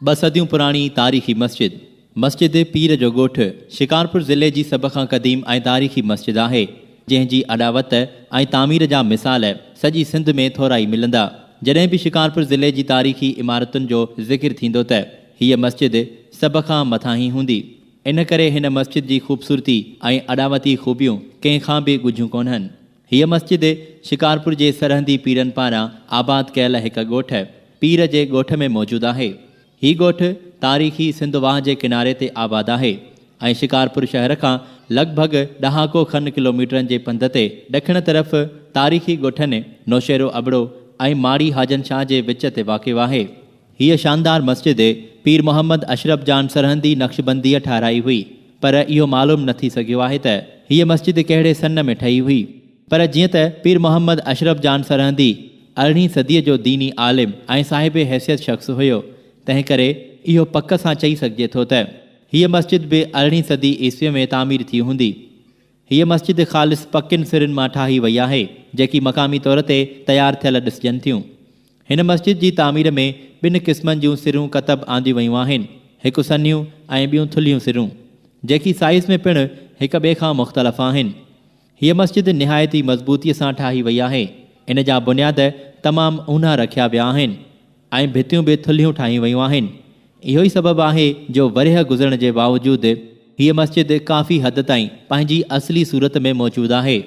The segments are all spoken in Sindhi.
ٻه صديون پراڻي تاريخي مسجد مسجد پير جو ڳوٺ شڪارپور ضلعي جي سڀ کان قديم ۽ تاريخي مسجد آهي، جنهن جي اڏاوت ۽ تعمير جا مثال سڄي سنڌ ۾ ٿورا ئي ملندا. جڏهن به شڪارپور ضلعي جي تاريخي عمارتن جو ذڪر ٿيندو ته هيء مسجد سڀ کان مٿانهين هوندي. ان ڪري هن مسجد جي خوبصورتي ۽ اڏاوتي خوبيون ڪنهن کان به ڳجهيون ڪونهن. هيء مسجد شڪارپور جي سرهندي پيرن پاران آباد ڪيل هڪ ڳوٺ پير جي ڳوٺ ۾ موجود آهي. هي ڳوٺ تاريخي سنڌ واهه جي ڪناري تي آباد آهي ۽ شڪارپور شهر کان لڳ ڀڳ ڏهاڪو کن ڪلوميٽرن جي پنڌ تي ڏکڻ طرف تاريخي ڳوٺن نوشهرو ابڙو ۽ ماڙي حاجن شاهه جي وچ تي واقع آهي. هيء شاندار مسجد پير محمد اشرف جان سرهندي نقشبنديء ٺاهرائي هئي. پر اهو معلوم نه ٿي سگهيو آهي ته هيء مسجد ڪهڙي سن ۾ ٺهي هئي. پر جيئن ته پير محمد اشرف جان سرهندي ارڙهين صديء جو ديني عالم ۽ صاحب حيثيت شخص هيو، تنهن ڪري اهو پڪ سان چئي سگهجي ٿو ته هيء مسجد به ارڙهين صدي عيسويء ۾ تعمير ٿي هوندي. هيء مسجد خالص پڪين سرن مان ٺاهي وئي آهي، جيڪي مقامي طور تي تيار ٿيل ڏسجن ٿيون. هن مسجد جي تعمير ۾ ٻن قسمن جون سرون ڪتب آنديون ويون آهن، هڪ سنهيون ۽ ٻيون ٿلهيون سرون، جيڪي سائيز ۾ پڻ هڪ ٻئي کان مختلف آهن. هيء مسجد نهايت ئي مضبوطيء سان ٺاهي وئي آهي. ان جا بنياد تمام اونها رکيا ويا آهن. ۽ ڀتيون به ٿلهيون ٺاهيون ويون آهن. اهو ئي سبب آهي جو ورهيه گذرڻ جي باوجود هيء مسجد ڪافي حد تائين پنهنجي اصلي صورت ۾ موجود آهي.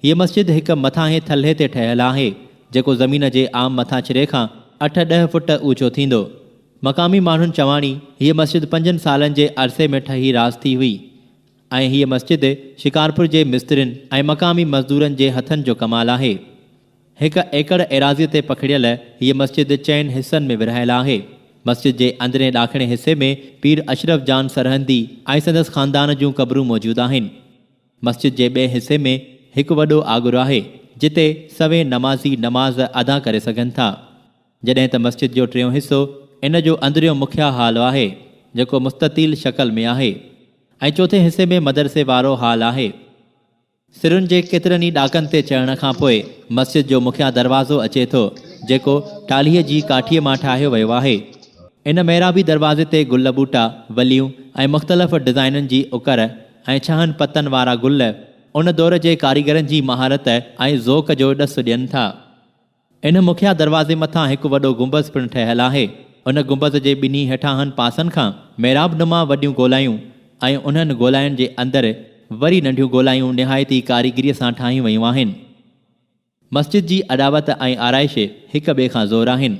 هيء مسجد هڪ مٿانهين ٿلهي تي ٺهيل آهي، جيڪو زمين جي عام مٿاڇري کان اٺ ڏهه فوٽ اوچو ٿيندو. مقامي ماڻهن چواڻي هيء مسجد پنجن سالن جي عرصي ۾ ٺهي راس ٿي هئي ۽ هيء مسجد شڪارپور جي مسترين ۽ مقامي مزدورن جي هٿن جو ڪمال آهي. هڪ ايڪڙ ايراضيء تي پکڙيل هيء مسجد چئن حصن ۾ ورهايل آهي. مسجد جي اندرين ڏاکڻي حصي ۾ پير اشرف جان سرهندي ۽ سندس خاندان جون قبرون موجود آهن. مسجد جي ٻئي حصي ۾ هڪ وڏو آڳر آهي، جتي سوين نمازي نماز ادا ڪري سگهن ٿا. جڏهن ته مسجد جو ٽيون حصو ان جو اندريون مکيه هال آهي، جيڪو مستطيل شڪل ۾ آهي ۽ چوٿين حصي ۾ مدرسي وارو هال آهي. سرن جي ڪيترن ئي ڏاڪن تي چڙهڻ کان پوء مسجد جو مکيه دروازو اچي ٿو، جيڪو ٽالهيء جي ڪاٺيء مان ٺاهيو ويو آهي. ان محرابي دروازي تي گل ٻوٽا، وليون ۽ مختلف ڊزائينن جي اڪر ۽ ڇهن پتن وارا گل، ان دور جي ڪاريگرن جي مهارت ۽ ذوق جو ڏس ڏين ٿا. ان مکيه دروازي مٿان هڪ وڏو گنبذ پڻ ٺهيل آهي. ان گنبذ جي ٻنهي هيٺانهن پاسن کان محراب نما وڏيون گولائيون ۽ انهن گولائين جي اندر وري ننڍيون گولائيون نهايت ئي ڪاريگريء سان ٺاهيون ويون آهن. مسجد جي اڏاوت ۽ آرائش هڪ ٻئي کان زور آهن.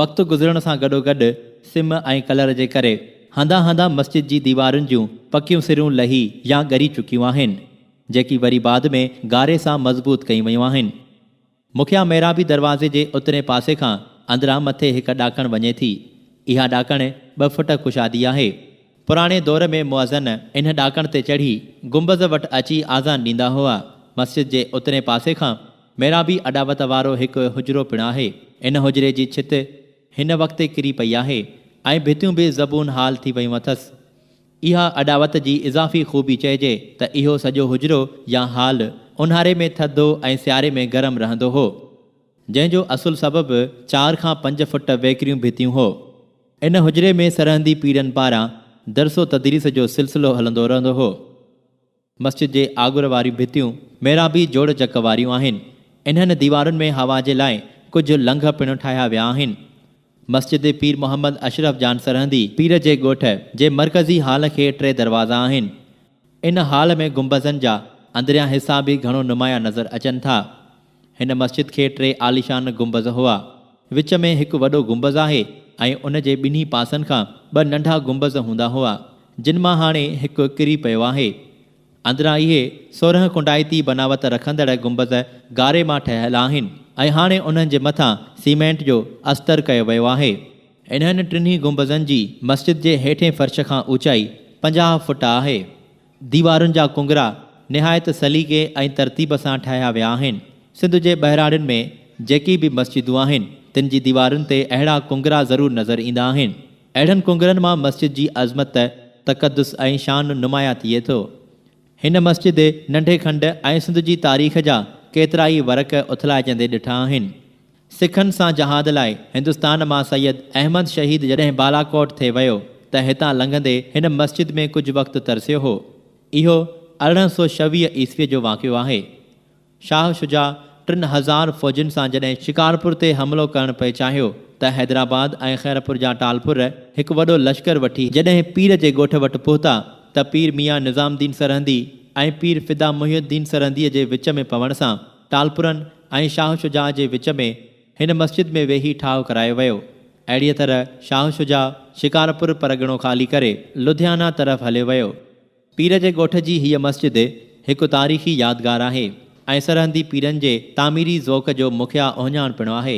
وقت گذرڻ سان گڏوگڏ سم ۽ ڪلر جي ڪري هنڌان هنڌان مسجد جي ديوارن جون پڪيون سرون لهي يا ڳري چڪيون آهن، جيڪي وري بعد ۾ گاري سان مضبوط ڪيون ويون آهن. مکيه محرابي دروازي جي اترئين پاسي کان اندران مٿي هڪ ڏاڪڻ وڃي ٿي. اها ڏاڪڻ ٻه فٽ ڪشادي آهي. پراڻي دور ۾ مؤذن ان ڏاڪڻ تي چڙهي گنبذ وٽ اچي آذان ڏيندا هئا. مسجد جي اترئين پاسي کان محرابي اڏاوت وارو هڪ حجرو پڻ آهي. ان حجري جي ڇت. هن وقت ڪري پئي آهي ۽ ڀتيون به زبون حال ٿي ويون اٿس. اها اڏاوت جي اضافي خوبي چئجي ته اهو سڄو حجرو يا هال اونهاري ۾ ٿڌو ۽ سياري ۾ گرم رهندو هو. جنهن جو اصل سبب چار کان پنج فٽ ويڪريون ڀتيون هو. ان حجري ۾ سرهندي پيرن پاران درس و تدريس جو سلسلو هلندو رهندو هو. مسجد جي آڳر واريون ڀتيون محرابي جوڙ جڪ واريون آهن. انهن ديوارن ۾ هوا جي لاء ڪجهه لنگهه پڻ ٺاهيا ويا آهن. مسجد پير محمد اشرف جان سرهندي پير جي ڳوٺ جي مرڪزي هال کي ٽي دروازا آهن. ان هال ۾ گنبذن جا اندريان حصا به گهڻو نمايان نظر اچن ٿا. هن مسجد کي ٽي عاليشان گنبذ هئا. وچ ۾ هڪ وڏو گنبذ آهي ۽ ان جي ٻنهي پاسن کان ٻه ننڍا گنبذ هوندا هئا، جن مان هاڻي هڪ ڪري پيو آهي. اندران اهي سورهن ڪنڊائتي بناوت رکندڙ گنبذ گاري مان ٺهيل آهن ۽ هاڻي انهن جي مٿان سيمينٽ جو استر ڪيو ويو آهي. انهن ٽنهي گنبذن جي مسجد جي هيٺين فرش کان اوچائي پنجاهه فوٽ آهي. ديوارن جا ڪنگرا نهايت سليقي ۽ ترتيب سان ٺاهيا ويا آهن. سنڌ جي ٻهراڙين ۾ جيڪي به مسجدون آهن، تن جي ديوارن تي اهڙا ڪنگرا ضرور نظر ايندا آهن. اهڙن ڪنگرن مان مسجد جي عظمت، تقدس ۽ شان نمايان ٿئي ٿو. هن مسجد ننڍي کنڊ ۽ سنڌ جي تاريخ جا ڪيترائي ورق اٿلائجندي ڏٺا آهن. سکن سان جهاد لاء هندستان مان سيد احمد شهيد جڏهن بالاڪوٽ ٿي ويو ته هتان لنگهندي هن مسجد ۾ ڪجهه وقت ترسيو هو. اهو ارڙهن سؤ ڇويهه عيسويء جو واقعو آهي. شاهه شجاع ٽن هزار فوجين سان جڏهن شڪارپور تي حملو ڪرڻ پئي چاهيو ته حيدرآباد ۽ خيرپور جا ٽالپر هڪ وڏو لشڪر وٺي جڏهن پير جي ڳوٺ وٽ پهتا ته پير ميان نظام الدين سرهندي ۽ پير فدا محي الدين سرهنديء جي وچ ۾ پوڻ سان ٽالپرن ۽ شاهه شجاع جي وچ ۾ هن مسجد ۾ ويهي ٺاهه ڪرايو ويو. اهڙيء طرح شاهه شجاع شڪارپور پرڳڻو خالي ڪري لڌيانا طرف هليو ويو. پير جي ڳوٺ جي هيء مسجد هڪ تاريخي يادگار آهي ۽ سرهندي پيرن جي تعميري ذوق جو مکيه اهڃاڻ پڻ آهي.